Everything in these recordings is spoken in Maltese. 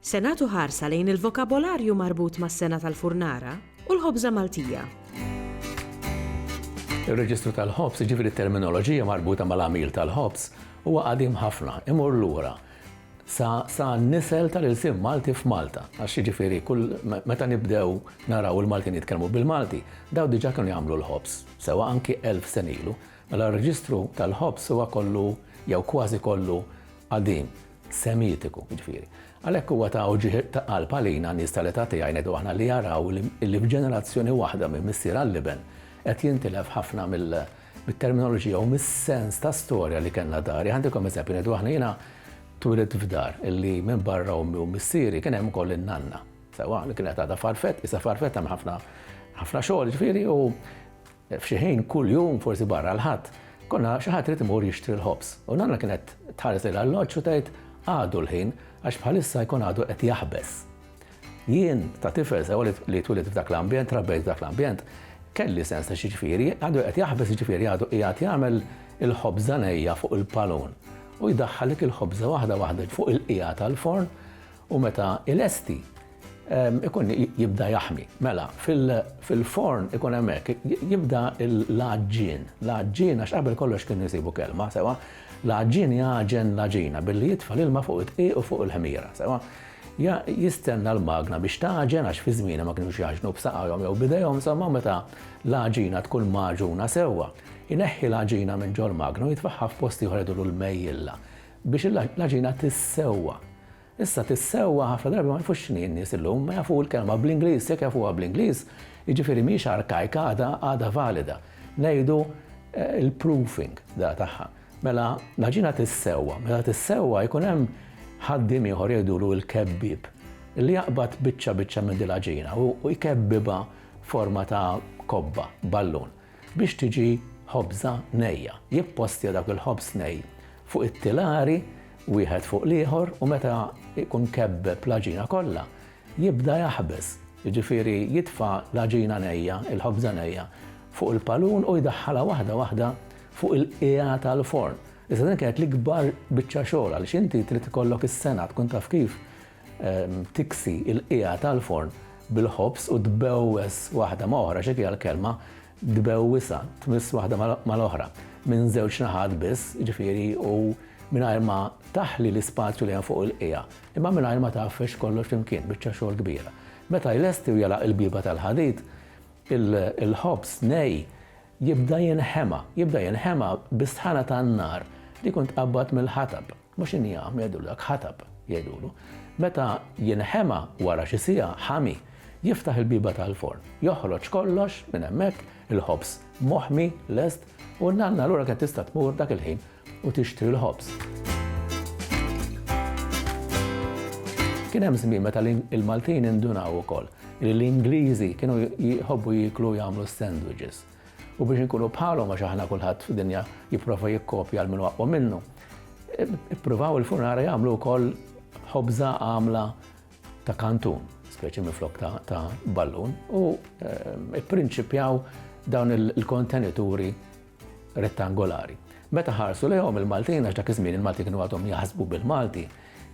Se nagħtu ħarsa lejn il-vokabolarju marbut mas-sengħa tal-furnara u l-ħobża Maltija. Ir-reġistru tal-ħobż, jiġifieri t-terminoloġija marbuta mal-għamil tal-ħobż, huwa qadim ħafna, imur lura sa sa n-nisel tal-ilsien Malti f'Malta. Għax jiġifieri kull meta nibdew naraw il-Maltin jitkellmu bil-Malti, dawn diġà kienu jagħmlu l-ħobż, sewwa anki elf sen ilu. Mela r-reġistru tal-ħobż huwa kollu jew kważi kollu qadim. Semitiku, jiġifieri. Għalhekk huwa ta' uġigħ ta' qalb għalina nies tal-età tiegħi ngħidu aħna li jaraw li f'ġenerazzjoni waħda minn missier għall-iben qed jintilef ħafna mill mit-terminoloġija u mis-sens ta' storja li kellna dari. Ħantikom eżempju ngħidu aħna jiena twilit f'dar illi minn barra ommi u missieri kien hemm ukoll in-nanna. Sewa li kienet għadha farfet, isa farfet hemm ħafna ħafna xogħol ġifieri u F'xi ħin kull jum, forsi barra l-Ħadd, konna xi ħadd irid imur jixtri l-ħobż, u nanna kienet tħares lejn l-alloġġ u tgħid, Għadu l-ħin, għax bħalissa jkun għadu qed jaħbes. Jien, ta' tifel sew li twilit f'dak l-ambjent, trabbejt f'dak l-ambjent, kelli sens ta' x'jiġifieri, għadu qed jaħbes jiġifieri għadu qiegħed jagħmel il-ħobża nejja fuq il-palun u jdaħħalek il-ħobża waħda waħda fuq il-qiegħa tal-forn u meta ilesti, ikun jibda jaħmi. Mela, fil-forn ikun hemmhekk jibda l-għaġġien. L-għaġġien għax qabel kollox kien isibu kelma, sewa, l-għaġġien jagħġen l-għaġina billi jitfa' l-ilma fuq it-tqiq u fuq il-ħmira, sewa. Jistenna l-magna biex tagħġen għax fi żmienha ma kinux jaħġnu b'saqajhom jew b'idejhom, insomma meta l-għaġina tkun magħġuna sewwa, ineħħi l-għaġina minn ġol-magna u jitfaħħa f'post ieħor jgħidulu l-mejjilla biex l-għaġina tissewwa. Issa fis-sewwa ħafna drabi ma jafux x'inhi n-nies illum, ma jafu l-kelma bl-Ingliż, jekk jafuha bl-Ingliż, jiġifieri mhijiex arkajka għadha għadha valida. Ngħidu l-proofing da tagħha. Mela l-għaġina tissewwa, meta tissewwa jkun hemm ħaddiem ieħor jgħidulu il-kebbieb li jaqbad biċċa biċċa minn din l-għaġina u jkebbibha forma ta' kobba, ballun. biex tiġi ħobża nejja. Jippostja dak il-ħobż nej fuq it-tilari wieħed fuq l-ieħor u meta jkun kebbeb l-għaġina kollha, jibda jaħbes, jiġifieri jitfa' l-għaġina nejja, il-ħobża nejja, fuq il-palun u jdaħħalha waħda waħda fuq il-qiegħa tal-forn. Issa din kienet l-ikbar biċċa xogħol għaliex inti trid ikollok is-sengħa tkun taf kif tiksi l-qiegħa tal-forn bil-ħobż u tbewwes waħda ma' oħra, xi fiha l-kelma tbewwisha, tmiss waħda mal-oħra, minn żewġ naħat biss, jiġifieri u mingħajr ma taħli l-ispazju li hemm fuq il-qiegħa, imma mingħajr ma tgħaffex kollox flimkien, biċċa xogħol kbira. Meta jlesti u jagħlaq il-bieba tal-ħadid, il-ħobż nej jibda jinħema, jibda jinħema bis-sħana tan-nar li tkun tqabbad mill-ħatab. Mhux injam, jgħidu dak, ħatab, jgħidulu. Meta jinħema wara xi siegħa, ħami, jiftaħ il-bieba tal-forn, joħroġ kollox minn hemmhekk, il-ħobż moħmi, lest, u n-nanna allura kienet tista' tmur dak il-ħin u tixtri l-ħobż. Kien hemm żmien meta l-Maltin indunaw ukoll li l-Ingliżi kienu jħobbu jieklu u jagħmlu s-sandwiches. u biex inkunu bħalhom għax aħna kulħadd fid-dinja jipprova jikkopja għal minn aqwa minnu. Ippruvaw il-funara jagħmlu wkoll ħobża għamla ta' kantun, speċi minn flok ta' ballun, u ehm, ipprinċipjaw dawn il-kontenituri rettangolari. Meta ħarsu lejhom il-Maltin, għax dak iż-żmien il-Malti kienu għadhom jaħsbu bil-Malti,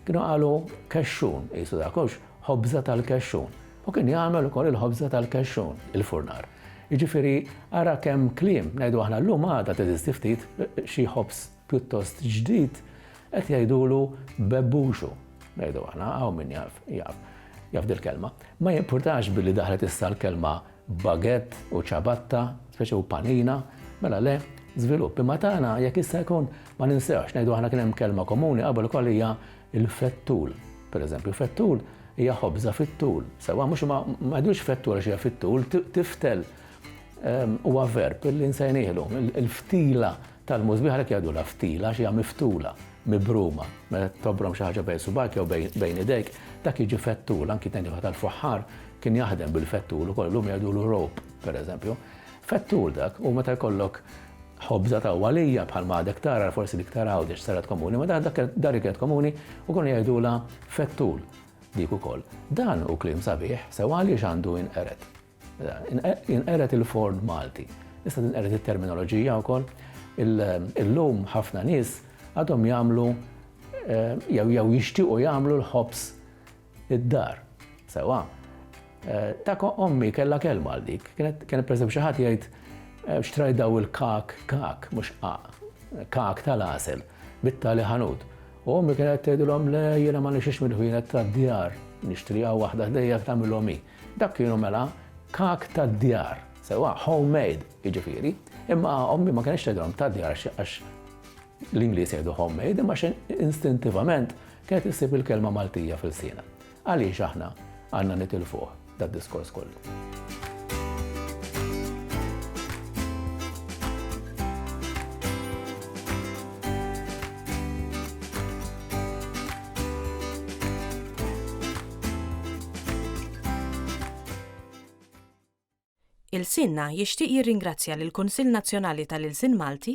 kienu qalu kexxun, jisu dakux, ħobża tal-kexxun. U kien jagħmel ukoll il-ħobża tal-kexxun, il-furnar. Jiġifieri, ara kemm kliem, ngħidu aħna llum għada teżisti ftit xi ħobż pjuttost ġdid qed jgħidulu bebbuxu. Ngħidu aħna, hawn min jaf, jaf, jaf dil-kelma. Ma jimpurtax billi daħlet issa l-kelma baguette u ciabatta, speċi u panina, mela le, żvilupp. Imma tagħna jekk issa jkun ma ninsewx, ngħidu aħna kien hemm kelma komuni qabel ukoll hija Il-fettul, pereżempju, fettul hija ħobża fit-tul, sewwa mhux ma jgħidux fettul għax hija fit-tul, tiftel ehm, huwa verb li nsejnielu. Il-ftila tal-mużbieħ għalhekk jgħidulha ftila għax hija miftula, mibruma, meta tobrom xi ħaġa bejn subak jew bejn idejk, dak jiġi fettul, anki tgħid tal-fuħħar kien jaħdem bil-fettul ukoll, lum jgħidulu rope, pereżempju. Fettur dak, u meta jkollok ħobża ta' għalija bħalma għadek tara, forsi dik ta' Għawdex saret komuni, ma dak dar li kienet komuni u konu jgħidulha fettul dik ukoll. Dan hu kliem sabiħ, sew għaliex għandu inqered. Inqered il-forn Malti. Issa tinqered it-terminoloġija wkoll. Illum ħafna nies għadhom jagħmlu eh, jew jew jixtiequ jagħmlu l-ħobs id-dar. Sewwa. Dak ommi kellha kelma għal dik. Kienet, kienet pereżempju xi ħadd jgħid xtrajdaw il-kak, kak, mhux qaq, kak tal-għasel, bit-tali ħanut. U ommi kienet tgħidilhom le jiena ma nixtrix mill-ħwienet tad-djar, nixtri hawn waħda ħdejja tagħmilhom hi. Dak kienu mela kak tad-djar. Sewwa, home made, jiġifieri. Imma ommi ma kinitx tgħidilhom tad-djar għax, għax, L-Ingliż jgħidu homemade imma xejn instintivament kienet issib il-kelma Maltija f'ilsiena. Għaliex aħna għandna nitilfuh dad-diskors kollu? Ilsienna jixtieq jirringrazzja lill-Kunsill Nazzjonali tal-Ilsien Malti,